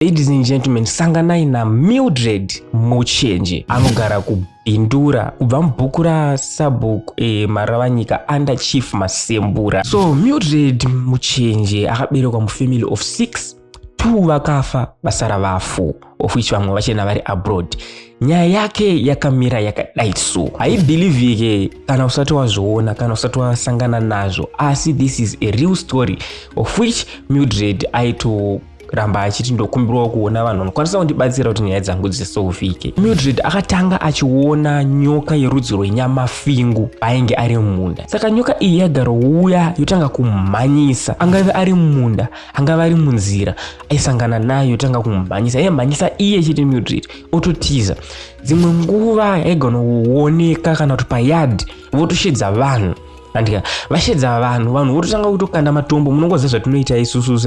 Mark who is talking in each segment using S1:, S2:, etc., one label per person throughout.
S1: Ladies and gentlemen, sanganai na Mildred Muchenje anogara ku Bindura kubva mubhuku ra Sabhuku e Maravanyika under Chief Masembura. So Mildred Muchenje akaberekwa mu family of 6 two vakafa vasara vafu of which vamwe vachena vari abroad nyaya yake yakamira yakadai so haibhilivhike kana usati wazviona kana usati wasangana nazvo asi this is a real story of which mildred aito ramba achiti ndokumbirawo kuona vanhu vanokwanisa kundibatsira kuti nyaya dzangu dzisouvike mildred akatanga achiona nyoka yerudzi rwenyama fingu paainge ari mumunda saka nyoka iyi yagarouya yotanga kumhanyisa angave ari mumunda angave ari munzira aisangana nayo yotanga kumhanyisa yaimhanyisa iye chete mildred ototiza dzimwe nguva yaigona kuoneka kana kuti payard votoshedza vanhu andika vashedza vanhu vanhu vototanga kutokanda matombo munongoziva zvatinoita isusu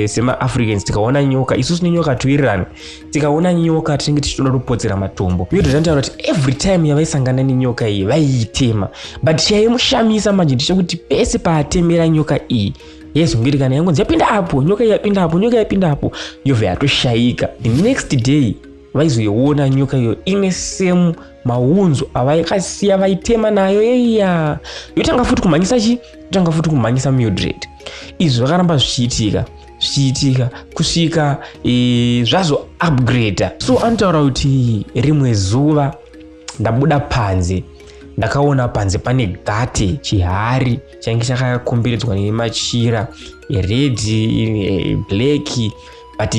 S1: semaafricans se, tikaona nyoka isusu nenyoka toirirana tikaona nyoka tinenge tichitoda kutopodzera matombo iyo tozvanotaura kuti every time yavaisangana nenyoka iyi vaiitema but chaimushamisa manje ndichekuti pese paatemera nyoka iyi yesu ngiri kana yangonzi yapinda apo nyoka yapinda apo nyoka yapinda apo yobva yatoshaika the next day vaizoiona nyoka iyo ine same maunzo avaikasiya vaitema nayo yeya yotanga futi kumhanyisa chi yotanga futi kumhanyisa mildred izvi zvakaramba zvichiitika zvichiitika kusvika e, zvazo upgrader so anotaura kuti rimwe zuva ndabuda panze ndakaona panze pane gate chihari chainge chakakomberedzwa nemachira redi e, black but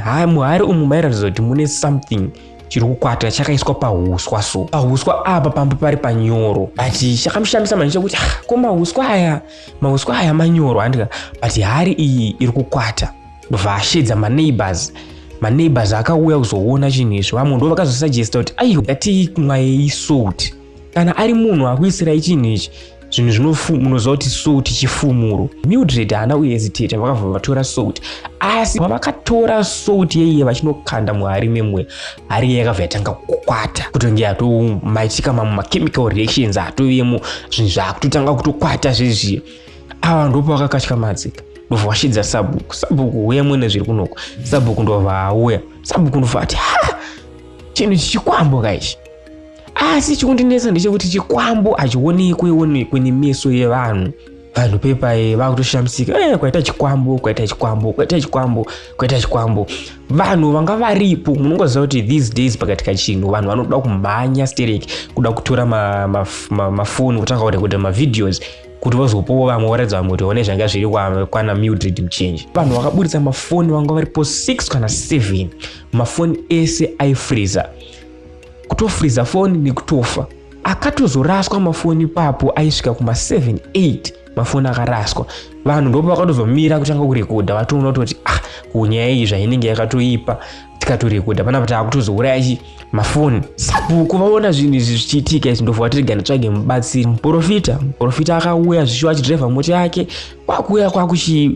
S1: ha muhari umu mairatidza kuti mune something chiri kukwata chakaiswa pahuswa so pahuswa apa pamba pari panyoro but chakamushamisa manje chekuti ah, ko mahuswa aya mahuswa aya manyoro handika but hari iyi iri kukwata ndobva ashedza maneighbors maneighbors akauya kuzoona chinhu izvi vamwe ndo vakazosugesta kuti aiyo ngatii mwayei salt kana ari munhu akuisirai chinhu ichi zvinhu zvinofuma unoziva kuti salt chifumuro mildred haana kuhesitata vakabva vatora salt asi pavakatora salt yeiye vachinokanda muhari memweya hari iye yakabva yatanga kukwata kutonge atomaitika mamwe machemical reactions atovemo zvinhu zvaakutotanga kutokwata zvezviya ava ndopavakakatya madzika ndobva vashidza sabhuku sabhuku uya mwene zviri kunoko sabhuku ndobva auya sabhuku ndobva ati ha chinhu chichikwamboka ichi asi chikundinetsa ndechekuti chikwambo hachionekwe onekwe nemeso yevanhu vanhu pepai vakutoshamisika e, eh, kwaita chikwambo kwaita chikwambo kwaita chikwambo kwaita chikwambo vanhu vanga varipo munongoziva kuti these days pakati kachinhu vanhu vanoda kumhanya sterek kuda kutora mafoni ma, ma, ma kutanga kurekodha mavideos kuti vozopowo vamwe voratidza vamwe kuti one zvanga zviri kwana mildred muchange vanhu vakaburitsa mafoni vanga varipo 6 kana 7 mafoni ese aifreezer kutofriza foni nekutofa akatozoraswa mafoni ipapo aisvika kuma 7 8 mafoni akaraswa vanhu ndopo vakatozomira kutanga kurekodha vatoona kutoti ah kunyaya iyi zvainenge yakatoipa tikatorekodha panapa taakutozouraya chi mafoni sabhuku vaona zvinhu izvi zvichiitika izvi ndobva vatirega nditsvage mubatsiri muprofita muprofita akauya zvishuwa achidrivha mota yake kwakuuya kwakuchiona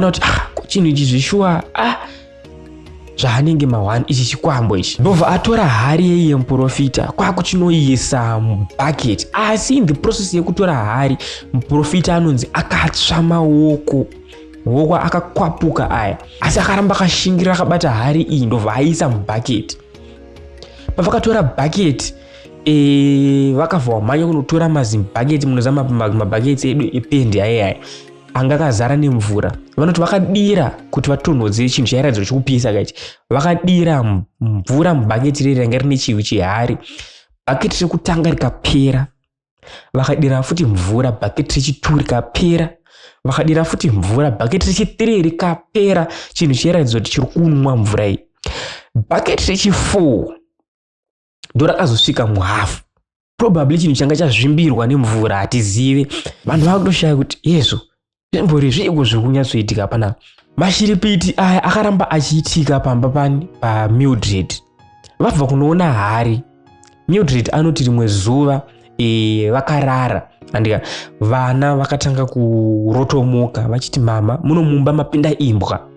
S1: kuti ah chinhu ichi zvishuwa ah zvaanenge mahwani ichi chikwambo ichi ndobva atora hari yei yemuprofita kwakuchinoisa mubucket asi in the process yekutora hari muprofita anonzi akatsva maoko maoko akakwapuka aya asi akaramba akashingira akabata hari iyi ndobva aisa mubucket pavakatora bucket e, vakavhomanya kunotora mazimbaketi munoziva mabhaketi edu ependi aye aye anga akazara nemvura vanoti vakadira kuti vatonhodze chinhu chairadziro chokupisa kaichi vakadira mvura mubhaketi riri ranga rine chivi chihari bhaketi rekutanga rikapera vakadira futi mvura bhaketi rechitu rikapera vakadira futi mvura bhaketi rechitiri rikapera chinhu chairadziro kuti chiri kunwa mvura iyi bhaketi rechifour ndorakazosvika muhafu probably chinhu changa chazvimbirwa nemvura hatizive vanhu vakutoshaya kuti yesu zvimbori zviiko zviri kunyatsoitika pana mashiripiti aya akaramba achiitika pamba pani pamildred vabva kunoona hari mildred anoti rimwe zuva e, vakarara andika vana vakatanga kurotomoka vachiti mama muno mumba mapinda imbwa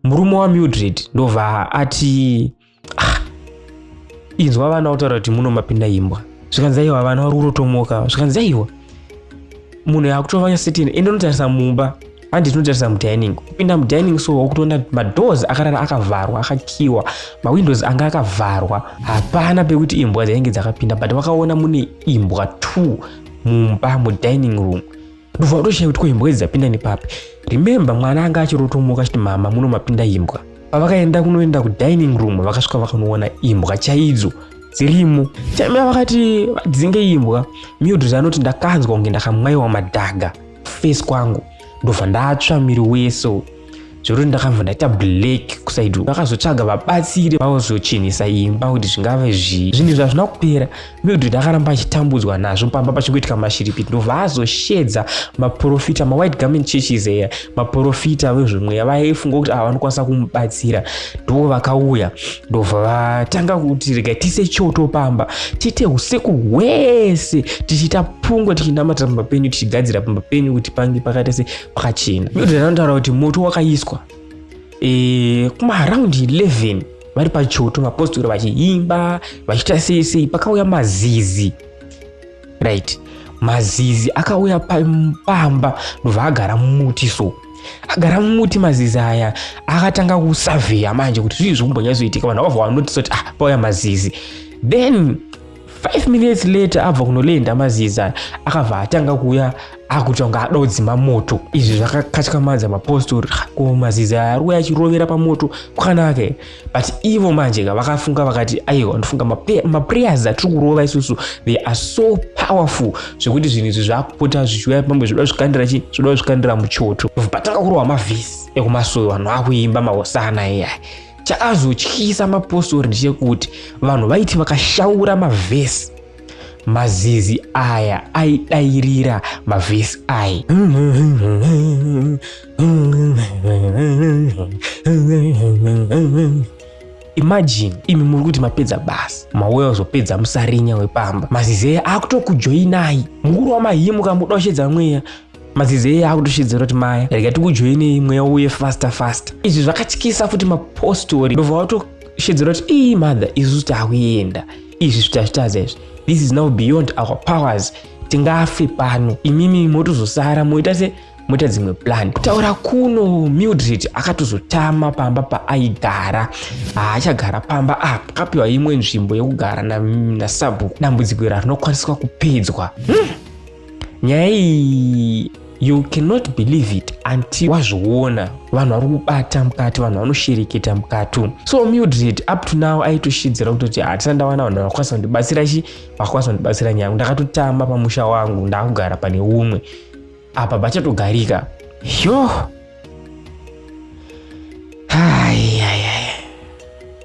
S1: murume wamildred ndobva ati ah. inzwa vana otaura kuti muno mapinda imbwa zvikanzi aiwa vana vari kutotomoka zvikanzi aiwa munhu yakutovanya sitini ende unotarisa mumba handi tinotarisa mudining kupinda mudining so wakutoona madoors akarara akavharwa akakiwa mawindows anga akavharwa hapana pekuti imbwa dzainge dzakapinda but wakaona mune imbwa two mumba mudining room ndobva watoshaya kuti ko imbwa idzi dzapinda nepapi remember mwana anga achirotomuka achiti mama muno mapinda imbwa pavakaenda kunoenda kudining room vakasvika vakanoona imbwa chaidzo dzirimo chaimira vakati vadzinge imbwa mildred anoti ndakanzwa kunge ndakamwaiwa madhaga face kwangu ndobva ndatsva miri wese zvekuti ndakabva ndaita black kusaidi ndakazotsvaga vabatsiri vazochinhisa imba kuti zvingave zvii zvinhu izvi hazvina kupera mildred ndakaramba achitambudzwa nazvo pamba pachingoitika mashiripiti ndobva azoshedza maprofita mawhite garment churches eya maprofita vezvemweya vaifunga kuti ava vanokwanisa kumubatsira ndo vakauya ndobva vatanga kuti rega tise choto pamba tiite usiku hwese tichiita pungwe tichinamatira pamba penyu tichigadzira pamba penyu kuti pange pakaita se kwakachena bhaibheri anotaura kuti moto wakaiswa e, kumaaraundi 11 vari pachoto vapostori vachiimba vachiita sei sei pakauya mazizi right mazizi akauya pamba ndobva agara mumuti so agara mumuti mazizi aya akatanga kusavheya manje kuti zvii zvikumbonyazoitika vanhu vavha vanotisa kuti ah pauya mazizi then 5 minutes later abva kunolenda maziza akabva atanga kuuya akuita kunge adodzima moto izvi zvakakatyamadza mapostori ko maziza ari kuuya achirovera pamoto kwakanake but ivo manje ka vakafunga vakati aiwa ndofunga maprayers atiri kurova isusu they are so powerful zvekuti zvinhu izvi zvaakupota zvichiuya pamwe zvoda zvikandira chii zvoda zvikandira muchoto vatanga kurova mavhisi ekumasowe vanhu akuimba mahosana iyai Chakazotyisa mapostori ndechekuti vanhu vaiti vakashaura mavhesi mazizi aya aidairira mavhesi aya imagine imi muri kuti mapedza basa mauya kuzopedza musarinya wepamba mazizi aya akutokujoinai mukuru wamahimu kamudoshedza mweya mazizi eye akutoshidzira kuti maya rega tikujoinei mweya uye faster faster izvi zvakatyisa futi mapostori ndobva watoshidzira kuti ii mother isusu takuenda izvi zvitazvitaza izvi this is now beyond our powers tingafe pano imimi motozosara moita se moita dzimwe plan kutaura kuno mildred akatozotama pamba paaigara haachagara pamba apa akapiwa imwe nzvimbo yekugara nasabhuku dambudziko ira rinokwaniswa kupedzwa hmm. nyaya iyi you cannot believe it anti wazviona vanhu vari kubata mukati vanhu vanoshereketa mukatu so mildred up to now aitoshidzira kutoti hatina ndawana vanhu vakwanisa kundibatsira chi vakwanisa kundibatsira nyangu ndakatotama pamusha wangu ndakugara pane umwe apa pachatogarika yoh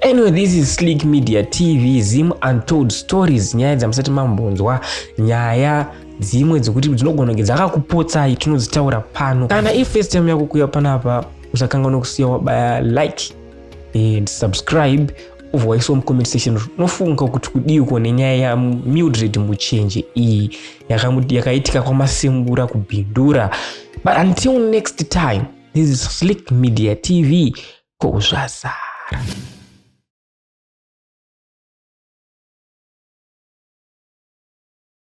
S1: Anyway, this is Slick Media TV, Zim Untold Stories, nyaya dzamusati mambonzwa, nyaya dzimwe dzekuti dzinogona kunge dzakakupotsai tinodzitaura pano. Kana if first time yako kuuya panapa, usakanganwa kusiya wabaya like and subscribe ubva waisawo mucomment section unofunga kuti kudiiko nenyaya yamildred muchenje iyi yakaitika kwamasimbura kubindura but until next time this is slick media tv ko zvazara